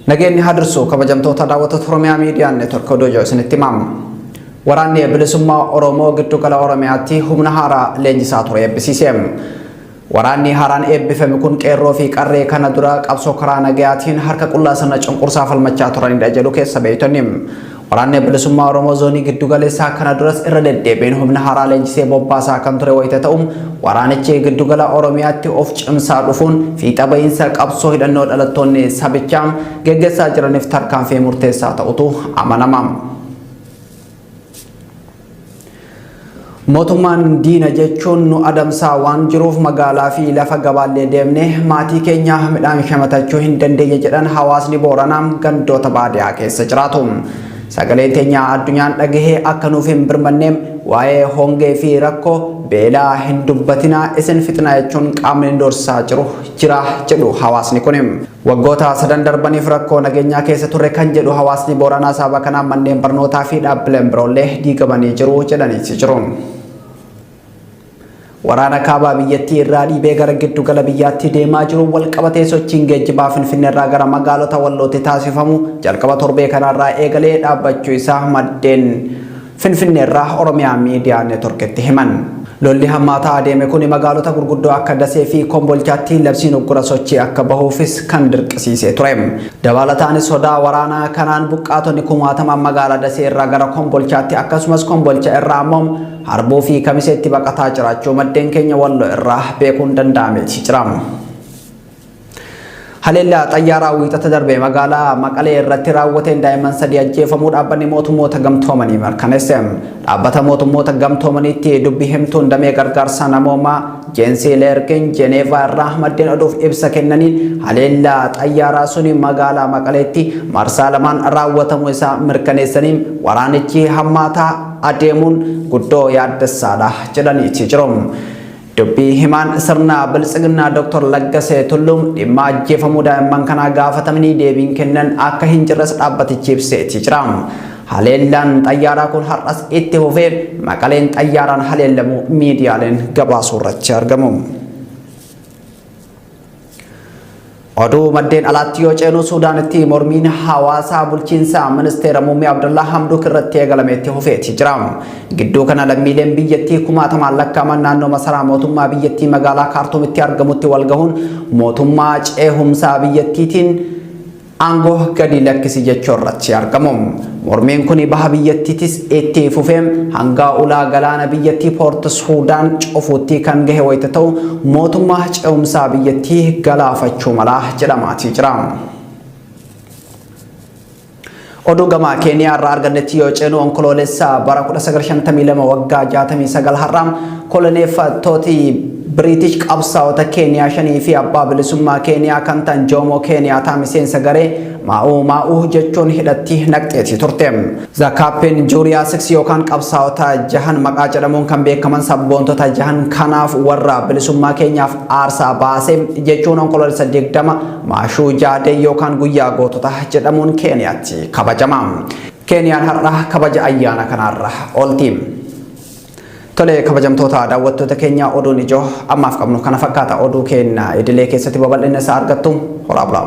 Nageenyi haa dursu kabajamtoota daawwattoota Oromiyaa Miidiyaa Neetwork Oduu Ijoo isinitti himamu. Waraanni bilisummaa Oromoo giddu gala Oromiyaatti humna haaraa leenjisaa ture eebbisiise. Waraanni haaraan eebbifame kun qeerroo fi qarree kana dura qabsoo karaa nagayaatiin harka qullaa sirna cunqursaa falmachaa turanidha jedhu keessa beektonni. Waraanni Bilisummaa Oromoo Zoonii Giddugaleessaa kana duras irra deddeebiin humna haaraa leenjisee bobbaasaa kan ture wayita ta'u, waraanichi giddugala Oromiyaatti of cimsaa dhufuun fiixa ba'iinsa qabsoo hidhannoo dhalattoonni sabichaa geggeessaa jiraniif tarkaanfii murteessaa ta'utu amanama. Mootummaan diina jechuun nu adamsaa waan jiruuf magaalaa fi lafa gabaallee deemnee maatii keenya midhaan shamatachuu hin dandeenye jedhan hawaasni Booranaa gandoota baadiyaa keessa jiraatu. Sagaleen teenya addunyaan dhagahee akka nuuf hin birmanne waa'ee hongee fi rakkoo beelaa hin dubbatinaa isin fixna jechuun qaamni dursaa jiru jira jedhu hawaasni kun. Waggoota sadan darbaniif rakkoo nageenyaa keessa turre kan jedhu hawaasni Booranaa sababa kanaan manneen barnootaa fi dhaabbileen biroollee diigamanii jiru jedhaniiti jiru. Waraana kaabaa biyyattii irraa dhiibee gara giddu gala biyyaatti deemaa jiru walqabatee sochiin geejjibaa Finfinnee irraa gara magaalota wallootti taasifamu jalqaba torbee kanaarraa eegalee dhaabbachuu isaa maddeen Finfinneerraa Oromiyaa Miidiyaa Network'tti himan. Lolli hammaataa adeeme kuni magaalota gurguddoo akka Dasee fi Kombolchaatti labsiin uggura sochii akka bahuufis kan dirqisiisee ture. Dabaalataanis sodaa waraanaa kanaan buqqaatonni kumaatamaan magaalaa Dasee irraa gara Kombolchaatti akkasumas Kombolcha irraa ammoo Harbuu fi Kamiseetti baqataa jiraachuu maddeen keenya Walloo irraa beekuun danda'ameeti jira. Haleellaa xayyaaraa wiixata darbe magaalaa Maqalee irratti raawwateen daa'imman sadii ajjeefamuu dhaabbanni mootummoota gamtoomanii mirkaneesse. Dhaabbata mootummoota gamtoomaniitti dubbi himtuun damee gargaarsa namoomaa Jeensii Leerkin Jeneevaa irraa maddeen oduuf ibsa kennaniin haleellaa xayyaaraa suni magaalaa Maqaleetti marsaa lamaan raawwatamuu isaa mirkaneessanii waraanichi hammaataa adeemuun guddoo yaaddessaadha jedhaniiti jiru. Dubbii himaan sirna biltsiginnaa Dr. Laggasee Tulluu dhimma ajjeefamuu daa'imman kanaa gaafatamanii deebiin kennan akka hin jirres dhaabbatichi ibseetii jira. Haleellaan xayyaaraa kun har'as itti fufee maqaleen xayyaaraan haleellamuu miidiyaaleen gabaasuurratti argamu. Oduu maddeen alaatti yoo ceenu Suudaanitti mormiin hawaasaa bulchiinsa ministeera muummee Abdullaa Hamduuk irratti eegalameetti hufeeti jira. Gidduu kana lammiileen biyyattii kumaatamaan lakkaa'aman naannoo masaraa mootummaa biyyattii magaalaa Kaartuumitti argamutti walgahuun mootummaa ceehumsaa biyyattiitiin Aangoo gadi lakkisi jechuu irratti argamu. Mormiin kun baha biyyattiitis itti fufee hanga ulaa galaana biyyattii Poort Suudaan cufuutti kan gahe wayita ta'u mootummaa ce'umsaa biyyattii galaafachuu mala jedhamaatii jira. Oduu gamaa Keeniyaa irraa argannetti yoo ceenu onkoloolessa bara 1952 waggaa 69 har'aa koloneeffattooti Biriitish qabsaa'ota Keeniyaa shanii fi abbaa bilisummaa Keeniyaa kan ta'an Joomoo Keeniyaataa miseensa garee Maa'uu Maa'uu jechuun hidhatti naqxeetii turte. The Captain Juria Six yookaan qabsaa'ota jahan maqaa jedhamuun kan beekaman sabboontota jahan kanaaf warra bilisummaa keenyaaf aarsaa baase jechuun onkoloolessa 20 Maashuu Jaadee yookaan guyyaa gootota jedhamuun Keeniyaatti kabajama. Keeniyaan har'a kabaja ayyaana kanaarra oolti. Tole kabajamtoota daawwattoota keenya oduun ijoo ammaaf qabnu kana fakkaata oduu keenya idilee keessatti babal'ina isaa argattu horaa bulaa.